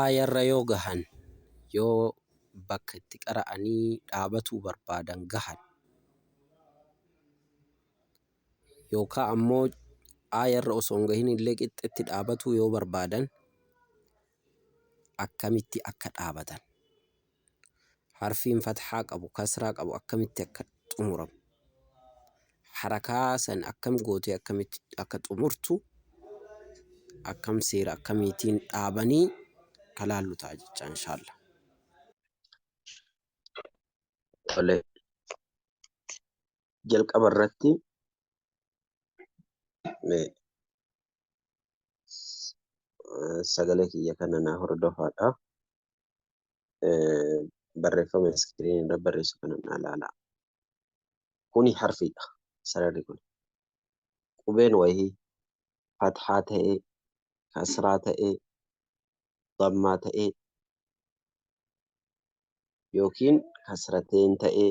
Aayarra yoo gahan, yoo bakka itti qara'anii dhaabatuu barbaadan gahan, yookaa ammoo aayarra osoo hin gahinillee qixxetti dhaabatuu yoo barbaadan akkamitti akka dhaabatan. harfiin fathaa qabu kasraa qabu akkamitti akka xumuramu harakaa san akkam gootee akkamitti akka xumurtu akkam seera akkamiitiin dhaabanii kalaallu ta'a jecha inshaalla. Tole jalqaba irratti mee sagalee kiyya kana naa hordofaadha. barreeffama iskiriinii irra barreessu kana naa ilaalaa. Kuni harfiidha sararri kun. Qubeen wayii fathaa ta'ee, kasraa ta'ee, dammaa ta'ee yookiin kasrateen ta'ee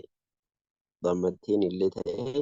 dammatteen illee ta'ee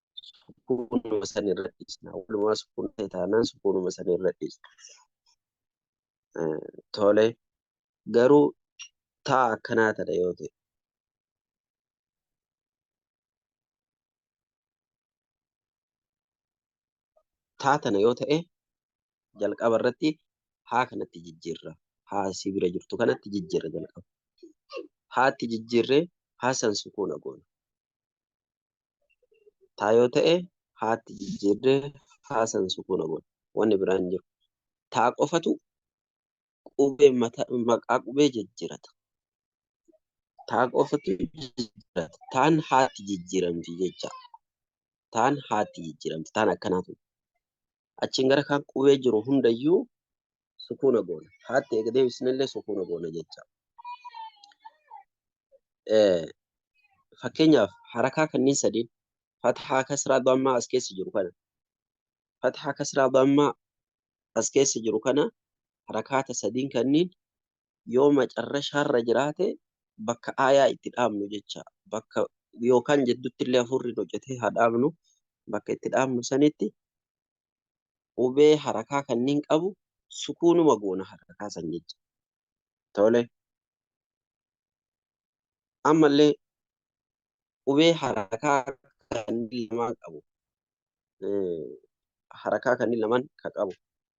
sukuunuma san irra dhiisna. Walumaa sukuun ta'e taanaan sukuunuma san irra dhiisna. Tole garuu taa akkanaa tana yoo ta'e. Taa tana yoo ta'e jalqaba irratti haa kanatti jijjiirra. Haa si bira jirtu kanatti jijjiirra jalqaba. Haatti jijjiirree haa san sukuuna goona. Taa yoo ta'e haatti jijjiirree haa san sukuuna godha. Wanni biraa hin jiru. Taa qofatu qubee mata, maqaa qubee jijjiirata. Taa qofatu jijjiirata. Taan haatti jijjiiramti jecha. Taan haatti jijjiiramti. Taan akkanaa tun. achiin gara kaan qubee jiru hundayyuu sukuuna goona. Haatti eega deebisnellee sukuuna goona jecha. Fakkeenyaaf harakaa kanneen sadiin fathaa kasraa dammaa as keessa jiru kana fathaa kasraa dammaa as keessa jiru kana harakaata sadiin kanniin yoo macarrashaarra jiraate bakka aayaa itti dhaabnu jecha bakka yookaan jedduttillee hafuurri nu citee haa dhaabnu bakka itti dhaabnu sanitti qubee harakaa kanniin qabu sukuunuma goona harakaa san jecha tole ammallee qubee harakaa kanneen lamaan qabu harakaa kanneen lamaan ka qabu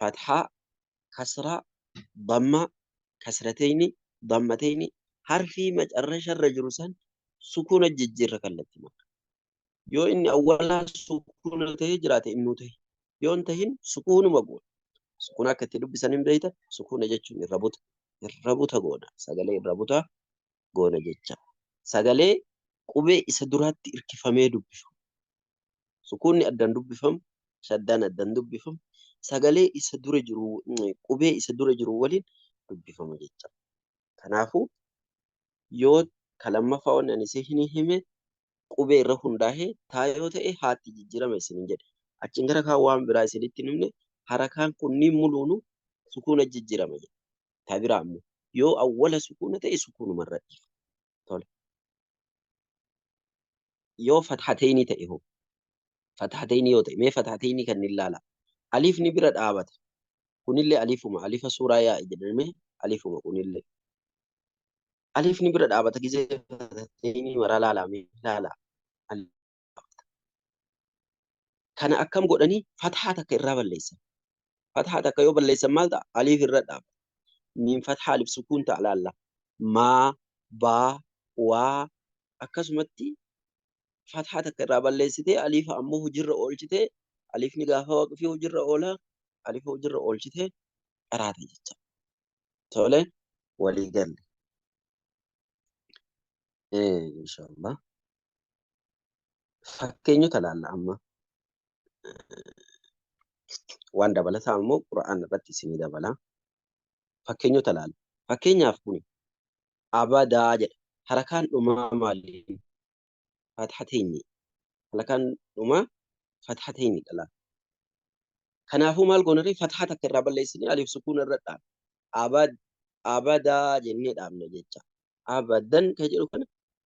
fathaa, kasraa, dammaa, kasratayni, dammatayni, harfii macarrasharra jiru san sukuunatti jijjiirra kallatti marra. Yoo inni awwalaa sukuuna tahee jiraate innuu tahi. Yoo hin tahin sukuunuma goona. Sukuuna akka itti dubbisan hin beeyta. Sukuuna jechuun irra buta. Irra buta goona. Sagalee irra butaa goona jecha. Sagalee qubee isa duraatti irkifamee dubbifamu. Sukuunni addaan dubbifamu, shaddaan addaan dubbifamu, sagalee isa dura jiru, qubee isa dura jiru waliin dubbifama jecha. Kanaafuu yoo ka lammaffaa wanni ani isin hime qubee irra hundaa'ee taa yoo ta'e haatti jijjiirama isinin jedhe. Achiin gara kaan waan biraa isinitti hin himne harakaan kunniin muluunuu sukuuna jijjiirama jedhe. Ta biraa ammoo yoo awwala sukuuna ta'e sukuunuma irra dhiifama. tole yoo fathateynii ta'e hoo fathateynii yoo ta'e mee fathateynii kan hin laala aliifni bira dhaabata kunillee aliifuma alifa suuraa yaa jedhame aliifuma kunillee aliifni bira dhaabata gizee fathateynii maraa laalaa mee laalaa qabda. Kana akkam godhanii fathaa takka irraa balleessan. Fathaa takka yoo balleessan maal ta'a? Aliif irra dhaaba. Miim fathaa alif sukuun ta'a laalla. Maa, baa, waa akkasumatti fathaa takka irraa balleessitee aliifa ammoo hojiirra oolchitee aliifni gaafa waqfii hojiirra oola aliifa hojiirra oolchitee qaraata jecha. Tole walii galle. Inshallah. fakkeenyota laalla amma waan dabalataa immoo qura'aan irratti isinii dabala fakkeenyota laalla fakkeenyaaf kun abadaa jedha harakaan dhumaa maaliin fathateenyi harakaan dhumaa fathateenyi dhala kanaafuu maal goonarri fathaa takka irraa balleessinee aliif sukuun irra dhaab abad abadaa jennee dhaabne jecha abadan kan jedhu kana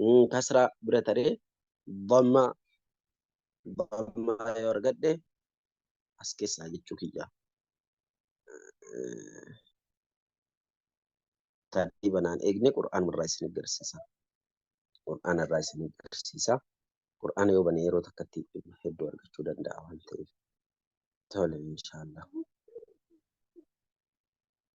mm, kasraa bira taree dhammaa dhammaa yoo argadhe as keessaa jechuu kiyya Eh, taadhii banaan eegne qur'aan irraa isin agarsiisa qur'aan irraa isin agarsiisa qur'aan yoo bane yeroo takkatti hedduu argachuu danda'a waan ta'eef tole inshaallah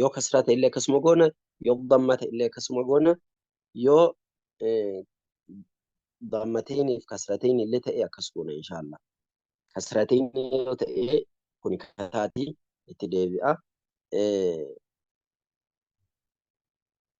yoo kasraa ta'e illee akkasuma goona yoo damma ta'e illee akkasuma goona yoo dammateenii fi kasrateen illee ta'e akkas goona inshaallah kasrateen yoo ta'e kun kasaatii itti deebi'a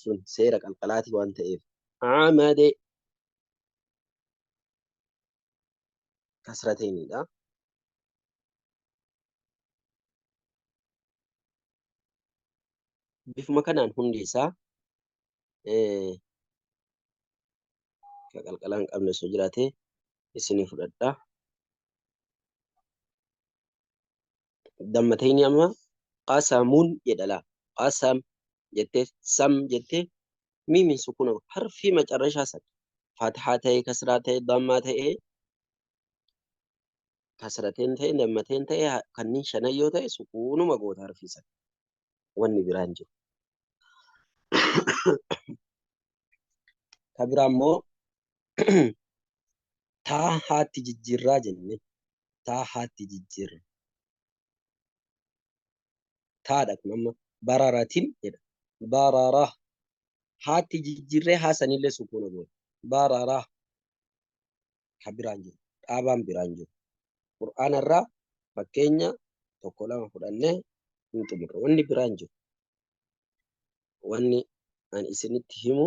sun seera qalqalaati waan ta'eef amade kasrateeniidha. Bifuma kanaan hundi isaa ka qalqalaa hin qabne osoo jiraate isinii fudhadha. dammatayni amma qasamun jedha la qasam jette sam jette miimin sukuna harfii macarrashaa san fathaa ta'e kasraa ta'e dammaa ta'e kasrateen ta'e dammateen ta'e kanniin shanan yoo ta'e sukuunuma goota harfii san wanni biraan jiru. Ka biraa immoo taa haatti jijjiirraa jenne taa haatti jijjiirra. Taadha kun amma bararatin jedha. Barara haatti jijjiirree haa sanillee sukuuna goona. Barara ka biraan jiru dhaabaan biraan jiru. Qur'aana irraa fakkeenya tokko lama fudhannee hin xumurre. Wanni biraan jiru. Wanni ani isinitti himu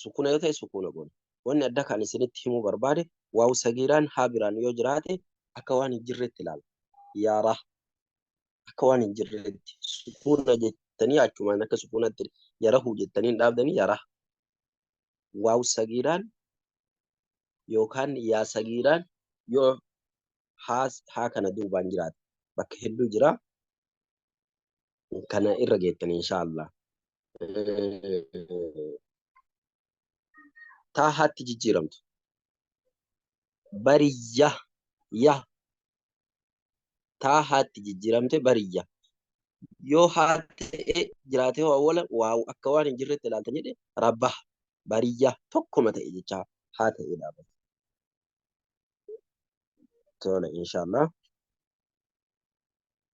sukuna yoo ta'e sukuna goona. Wanni adda kan isinitti himuu barbaade waawu sagiiraan haa biraan yoo jiraate akka waan hin jirreetti ilaala. Yaaraa akka waan hin jirreetti sukuna jettanii achumaan akka sukunatti yarahu jettanii hin dhaabdanii yaraa. Waawu sagiiraan yookaan yaa sagiiraan yoo haa kana duubaan jiraate bakka hedduu jira. kana irra geettan inshaallah taa haatti jijjiiramtu bariyya ya taa haatti jijjiiramte bariyya yoo haa ta'e jiraate hoo awwala waa akka waan hin jirretti ilaaltan jedhe rabbah bariyya tokkuma ta'e jechaa haa ta'e dhaabata tola inshaallah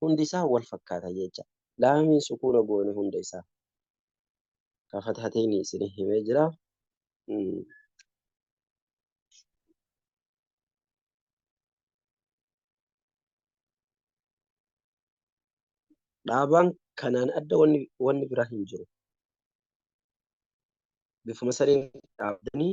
hundi isaa wal fakkaata jecha laamiin sukuuna goone hunda isaa ka fathateen isin himee jira dhaabaan kanaan adda wanni wanni biraa hin jiru bifuma saniin dhaabdanii